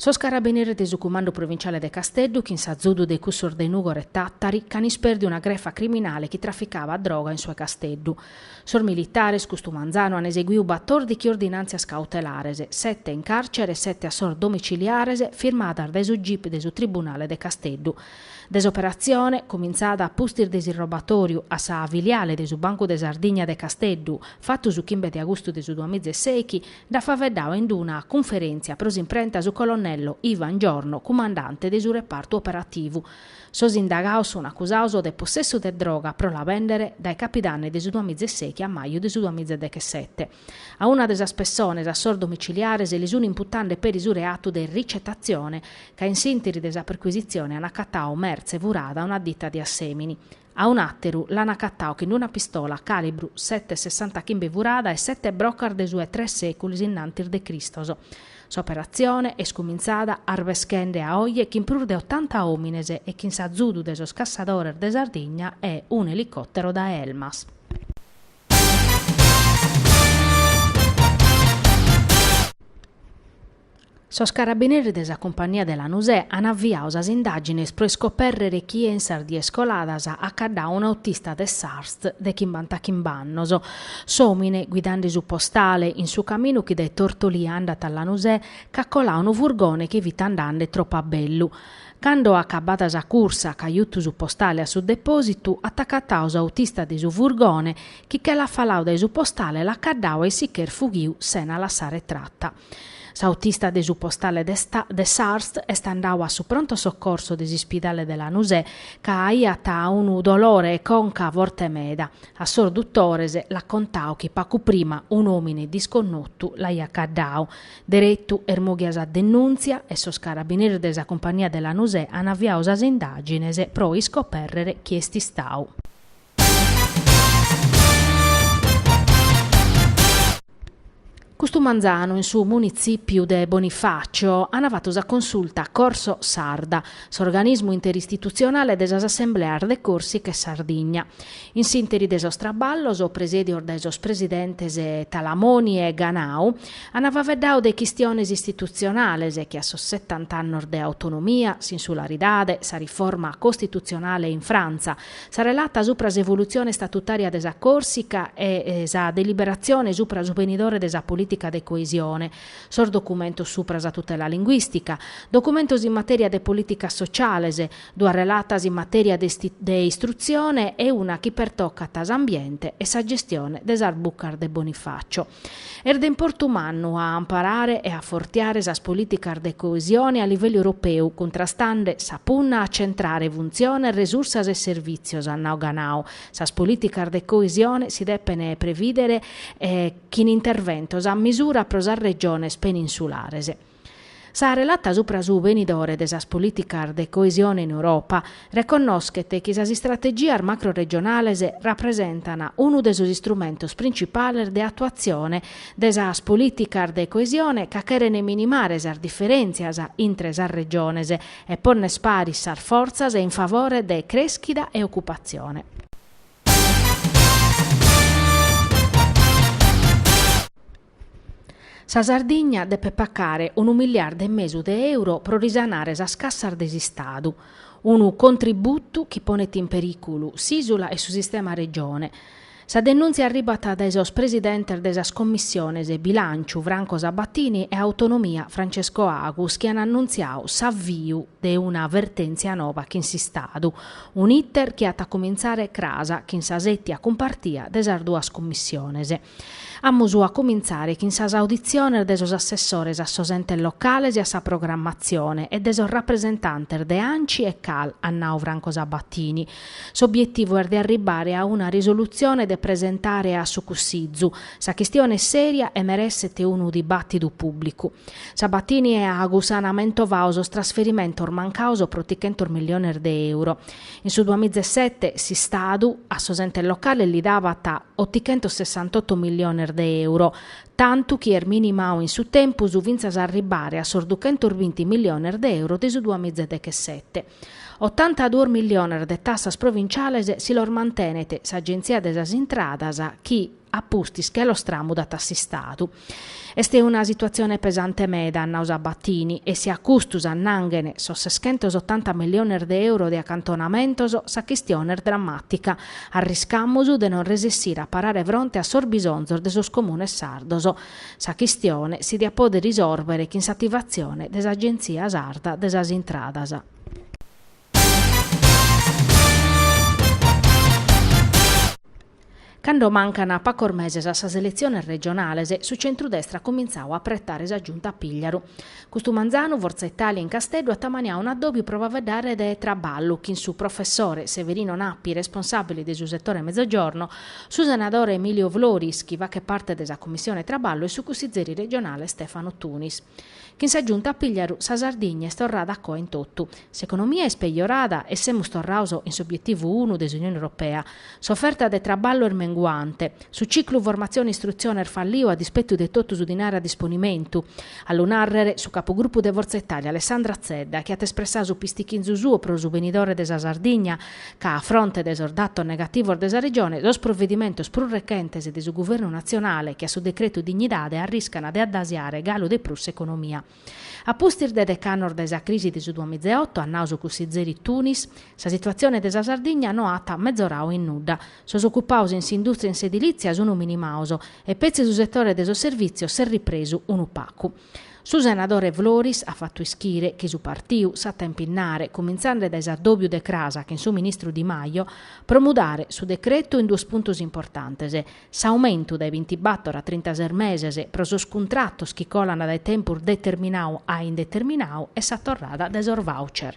Sos carabineris de su Cumandu Provinciale de Casteddu chin s'azudu de cussos de Nugor e Tàtari ch'an ispèrdiu una grefa criminale chi traficabat droga in su 'e Casteddu. Sos militares, custu manzanu, an eseguiu batòrdighi ordinàntzias cautelares, sete in càrcere e sete a sos domiciliares, firmadas dae su gip de su Tribunale de Casteddu. De s'operatzione, cumintzada a pustis de s'irrobatòriu a sa filiale de su Bancu de Sardigna de Casteddu, fatu su chimbe de agustu de su duamiza e sèichi, Nd'at faveddau in una cunferèntzia pro s'imprenta su colonnello Ivan Giorno, cumandante de su repartu operativu. Sos indagaos sunt acusados de possessu de droga pro la bèndere dae capidanni de su duamiza e sèichi a maju de su duamiza e dechesete. A una de sas pessones a sos domiciliares li sunt imputande peri su reatu de ricetatzione, ca in s'ìnteri de sa percuisitzione an acatau mertze furada a una dita de Assèmini. A un'àteru l'an acatau chin una pistola càlibru sete sessantachimbe furada e sete brocas de su 'e tres sèculos innantis de Cristos. S'operatzione est cumintzada arbeschende a oje chin prus de otanta òmines e chin s'azudu de sos cassadores de Sardigna e un'elicòtero dae Elmas. Sos carabineris de sa Cumpagnia de Lanusè an aviau sas indàgines pro iscopèrrere chie in sas dies coladas at caddau un'autista de s'Arst de chimbantachimb'annos. S'òmine, guidande su postale, in su caminu chi dae Tortolì andat a Lanusè, ch'at colau unu furgone chi fit andande tropu a bellu. Cando acabada sa cursa, ch'at jutu su postale a su depòsitu, at acatau s'autista de su furgone, chi che l'at falau dae su postale l'at caddau e si ch'est fughiu sena lassare trata. S'autista de su postale de s'Arst est andau a su pronto soccorso de s'ispidale de Lanusè ca aiat unu dolore 'e conca forte meda. A sos dutores l'at contau chi pacu prima un'òmine disconnotu l'aiat caddau. Deretu est mòghia sa denùntzia e sos carabineris de sa cumpagnia de Lanusè an aviau sas indàgines pro iscopèrrere chie est istau. Custu manzanu in su Munitzìpiu de Bonifàcio ant fatu sa consulta Corso Sarda, s'organismu interistitutzionale de sas assembleas de Còrsica e Sardigna. In s'ìnteri de sos traballos, presèdios dae sos presidentes Talamoni e Ganau, ant faveddau de chistiones istitutzionales che a sos setant'annos de autonomia, s'insularidade, sa riforma costitutzionale in Frantza, Sa relata supra s'evolutzione istatutària de sa Còrsica e sa deliberatzione supra su benidore de sa polìtica de coesione, sos documentos supra sa tutela linguìstica, documentos in matèria de polìticas sotziales, duas relatas in matèria de istrutzione e una chi pertocat s'ambiente e sa gestione de sas bucas de Bonifacio. Est de importu mannu a amparare e a fortiare sas polìticas de coesione a livellu europeu, cuntrastende sa punna a centrare funtziones, resursas e servìtzios, at nau Ganau. Sas polìticas de coesione si depent prevìdere chin interventos a misura pro sas regiones peninsulares. Sa relata supra su benidore de sas polìticas de coesione in Europa reconnoschet chi sas istrategias macroregionales rapresentan unu de sos istrumentos principales de atuatzione de sas polìticas de coesione ca cheren minimare sas diferèntzias intre sas regiones e ponner paris sas fortzas in favore de crèschida e ocupatzione. Sa Sardigna depet pacare unu miliardu e mesu de euro pro risanare sas cassas de s'Istadu, unu contributu chi ponet in perìculu s'ìsula e su sistema Regione. Sa denùntzia arribat dae sos presidentes de sas Commissiones Bilànciu, Franco Sabatini, e Autonomia, Francesco Agus, chi an annuntziau s'aviu de una vertèntzia nova chin s'Istadu, un'iter chi at a comintzare cras chin sa sètia cumpartia de sas duas Commissiones. Amus a comintzare chin sas auditziones de sos assessores a sos entes locales e a sa programmatzione e de sos rapresentantes de Anci e Cal, at nau Franco Sabatini. S'obietivu est de arribbare a una risolutzione de presentare a su Cussizu. Sa chistione est sèria e meresset unu dibàtidu pùblicu. Sabatini e Agus an amentovau sos trasferimentos mancaos pro trichentos milliones de euro. In su duamizaesete s'Istadu a sos entes locales li dabat otichentosessantotto milliones de euro, tantu chi est minimau in su tempus fintzas a arribbare a sos duchentosbinti milliones de euro de su duamizadechesete. Otantaduos milliones de tassas provinciales si los mantenet s'Agenzia de sas Intradas chi, a pustis che los tramudat a s'Istadu. Est una situatzione pesante meda, at nau Sabatini, e si a custu s'annanghen sos seschentos otanta milliones de euro de acantonamentos, sa chistione est drammàtica, arriscamus de non resessire a parare fronte a sos bisonzos de sos comunes sardos. Sa chistione si diat pòdere risòrbere chin s'ativatzione de s'Agenzia Sarda de sas Intradas. Cando mancan pacos meses a sas eletziones regionales, su centrudestra at comintzau a apretare sa Giunta Pigliaru. Custu manzanu Forza Italia in Casteddu at amaniau un'addòbiu pro faeddare de traballu chin su professore Severino Nappi, responsàbile de su setore Mezzogiorno, su senadore Emilio Floris, chi fachet parte de sa Commissione Traballu e su cussizeri regionale Stefano Tunis. Chin sa Giunta Pigliaru sa Sardigna est torrada a coa in totu. S'economia est pejorada e semus torraos in s'obietivu unu de s'Unione Europea. S'oferta de traballu est menguante. Su ciclu formatzione-istrutzione est falliu a dispetu de totu su dinare a disponimentu. A lu nàrrere su capugrupu de Fortza Italia Alessandra Zedda chi at espressau su pistichinzu suo pro su benidore de sa Sardigna ca a fronte de sos datos negativos de sa Regione, sos provedimentos prus rechentes de su Guvernu natzionale che a su decretu dignidade arriscan de addasiare galu de prus s'economia. A pustis de dec'annos dae sa crisi de su duamizeoto, at nau su cussizeri Tunis, sa situatzione de sa Sardigna no at mezorau in nudda. Sos ocupaos in s'indùstria e in s'edilìtzia sunt minimaos e petzi su setore de sos servìtzios s'est ripresu unu pacu. Su senadore Floris at fatu ischire chi su partiu s'at a impinnare, cumintzande dae s'addòbiu de crasa chin su ministru Di Maio, pro mudare su decretu in duos puntos importantes, s'aumentu dae bintibator a trintases meses pro sos cuntratos chi colant dae tempus determinau a indeterminadu e sa torrada de sos voucher.